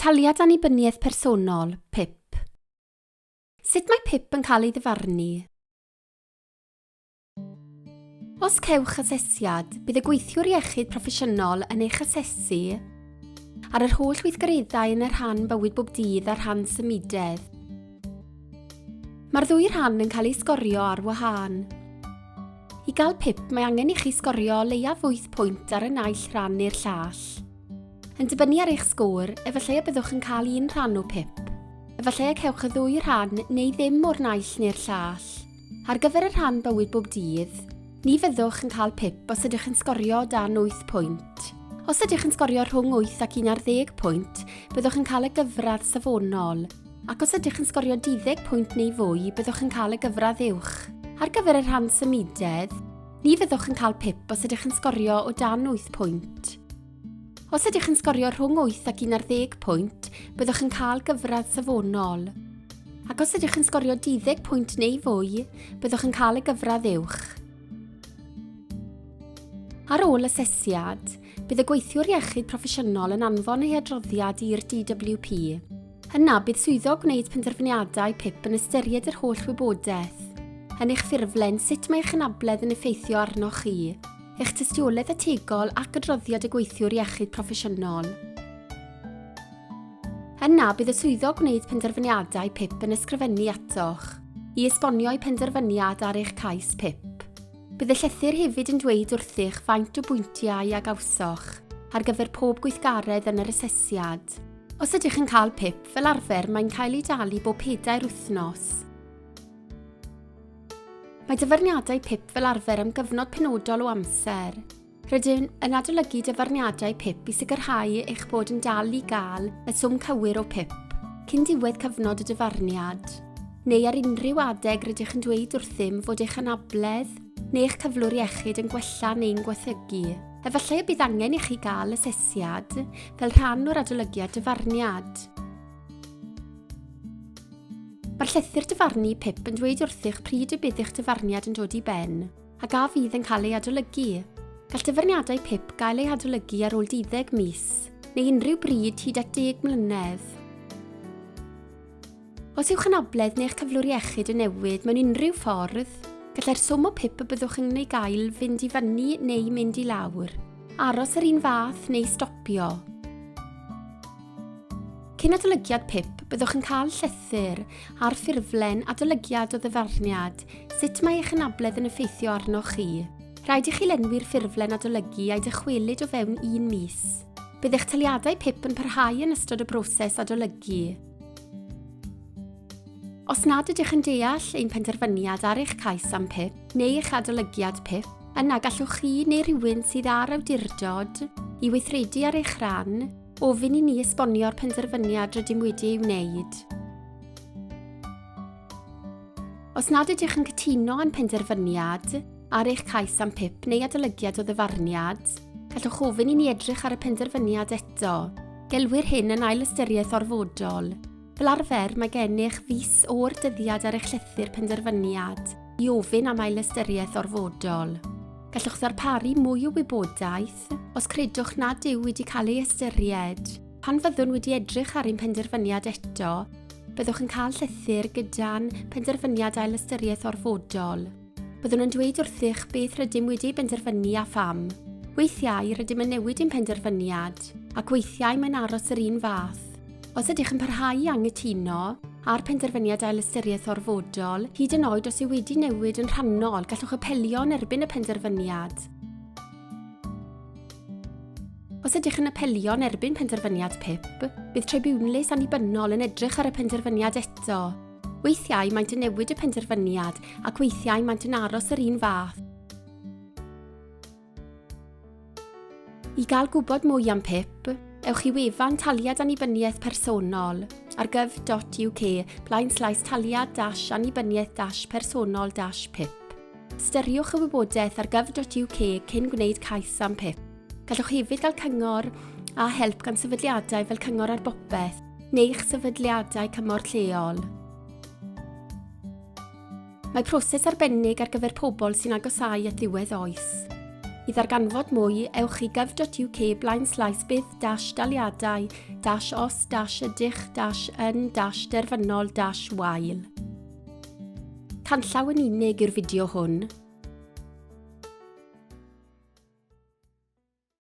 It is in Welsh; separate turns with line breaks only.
Taliad Annibyniaeth Personol, PIP. Sut mae PIP yn cael ei ddyfarnu? Os cewch asesiad, bydd y gweithiwr iechyd proffesiynol yn eich asesu ar yr holl weithgareddau yn y rhan bywyd bob dydd a rhan symudedd. Mae'r ddwy rhan yn cael eu sgorio ar wahân. I gael pip mae angen i chi sgorio o leiaf 8 pwynt ar y naill rhan neu'r llall. Yn dibynnu ar eich sgôr, efallai y byddwch yn cael un rhan o pip. Efallai y cewch y ddwy rhan neu ddim o'r naill neu'r llall. Ar gyfer y rhan bywyd bob dydd, ni fyddwch yn cael pip os ydych yn sgorio dan 8 pwynt. Os ydych yn sgorio rhwng 8 ac 11 pwynt, byddwch yn cael y gyfradd safonol, ac os ydych yn sgorio 12 pwynt neu fwy, byddwch yn cael y gyfradd uwch. Ar gyfer y rhan symudedd, Ni fyddwch yn cael pip os ydych yn sgorio o dan 8 pwynt. Os ydych yn sgorio rhwng 8 ac 11 pwynt, byddwch yn cael gyfradd safonol. Ac os ydych yn sgorio 12 pwynt neu fwy, byddwch yn cael y gyfradd uwch. Ar ôl asesiad, bydd y gweithiwr iechyd proffesiynol yn anfon ei adroddiad i'r DWP. Yna, bydd swyddog gwneud penderfyniadau PIP yn ystyried yr holl wybodaeth yn eich ffurflen sut mae eich anabledd yn effeithio arnoch chi, eich tystiolaeth ategol ac adroddiad y gweithiwr iechyd proffesiynol. Yna, bydd y swyddog gwneud penderfyniadau PIP yn ysgrifennu atoch i esbonio'i penderfyniad ar eich cais PIP. Bydd y llythyr hefyd yn dweud wrthych faint o bwyntiau a gawsoch ar gyfer pob gweithgaredd yn yr asesiad. Os ydych yn cael pip, fel arfer mae'n cael ei dalu bob pedair wythnos. Mae dyfarniadau pip fel arfer am gyfnod penodol o amser. Rydyn yn adolygu dyfarniadau pip i sicrhau eich bod yn dal i gael y swm cywir o pip cyn diwedd cyfnod y dyfarniad, neu ar unrhyw adeg rydych yn dweud wrthym fod eich anabledd neu eich cyflwr iechyd yn gwella neu'n gwethygu. Efallai y bydd angen i chi gael asesiad fel rhan o'r adolygiad dyfarniad. Mae'r llythyr dyfarnu PIP yn dweud wrthych pryd y bydd eich dyfarniad yn dod i ben, a gaf fydd yn cael ei adolygu. Gall dyfarniadau PIP gael ei adolygu ar ôl 12 mis, neu unrhyw bryd hyd at 10 mlynedd. Os yw'ch anabledd neu'ch cyflwr iechyd yn newid mewn unrhyw ffordd, gallai'r swm o pip y byddwch yn ei gael fynd i fyny neu mynd i lawr, aros yr un fath neu stopio. Cyn adolygiad pip, byddwch yn cael llythyr ar ffurflen adolygiad o ddyfarniad sut mae eich anabledd yn effeithio arnoch chi. Rhaid i chi lenwi'r ffurflen adolygu a'i dychwelyd o fewn un mis. Bydd eich taliadau pip yn parhau yn ystod y broses adolygu. Os nad ydych yn deall ein penderfyniad ar eich cais am PIP neu eich adolygiad PIP, yna gallwch chi neu rhywun sydd ar awdurdod i weithredu ar eich rhan ofyn i ni esbonio'r penderfyniad rydym wedi ei wneud. Os nad ydych yn cytuno â'n penderfyniad, Ar eich cais am pip neu adolygiad o ddyfarniad, gallwch ofyn i ni edrych ar y penderfyniad eto. Gelwir hyn yn ail ystyriaeth orfodol. Fel arfer, mae gennych fis o'r dyddiad ar eich llythyr penderfyniad i ofyn am ailystyriaeth orfodol. Gallwch ddarparu mwy o wybodaeth os credwch nad yw wedi cael ei ystyried. Pan fyddwn wedi edrych ar ein penderfyniad eto, byddwch yn cael llythyr gyda'n penderfyniad ailystyriaeth orfodol. Byddwn yn dweud wrthych beth rydym wedi benderfynu a pham. Weithiau rydym yn newid ein penderfyniad, ac weithiau mae'n aros yr un fath. Os ydych yn parhau i anghytuno a'r penderfyniad ailystyriaeth orfodol, hyd yn oed os yw wedi newid yn rhannol, gallwch apelio yn erbyn y penderfyniad. Os ydych yn apelio yn erbyn penderfyniad PIP, bydd tribiwnlys annibynnol yn edrych ar y penderfyniad eto Weithiau maent yn newid y penderfyniad ac weithiau maent yn aros yr un fath. I gael gwybod mwy am PIP, ewch i wefan Taliad Annibyniaeth Personol ar gov.uk blaen slaes taliad dash annibyniaeth dash personol dash PIP. Ystyriwch y wybodaeth ar gov.uk cyn gwneud cais am PIP. Gallwch hefyd gael cyngor a help gan sefydliadau fel Cyngor ar Bopeth neu'ch sefydliadau cymorth lleol. Mae proses arbennig ar gyfer pobl sy'n agosau at ddiwedd oes. I ddarganfod mwy, ewch i gov.uk blaen slaes bydd dash daliadau dash os dash ydych dash yn dash derfynol dash wael. Canllaw yn unig i'r fideo hwn.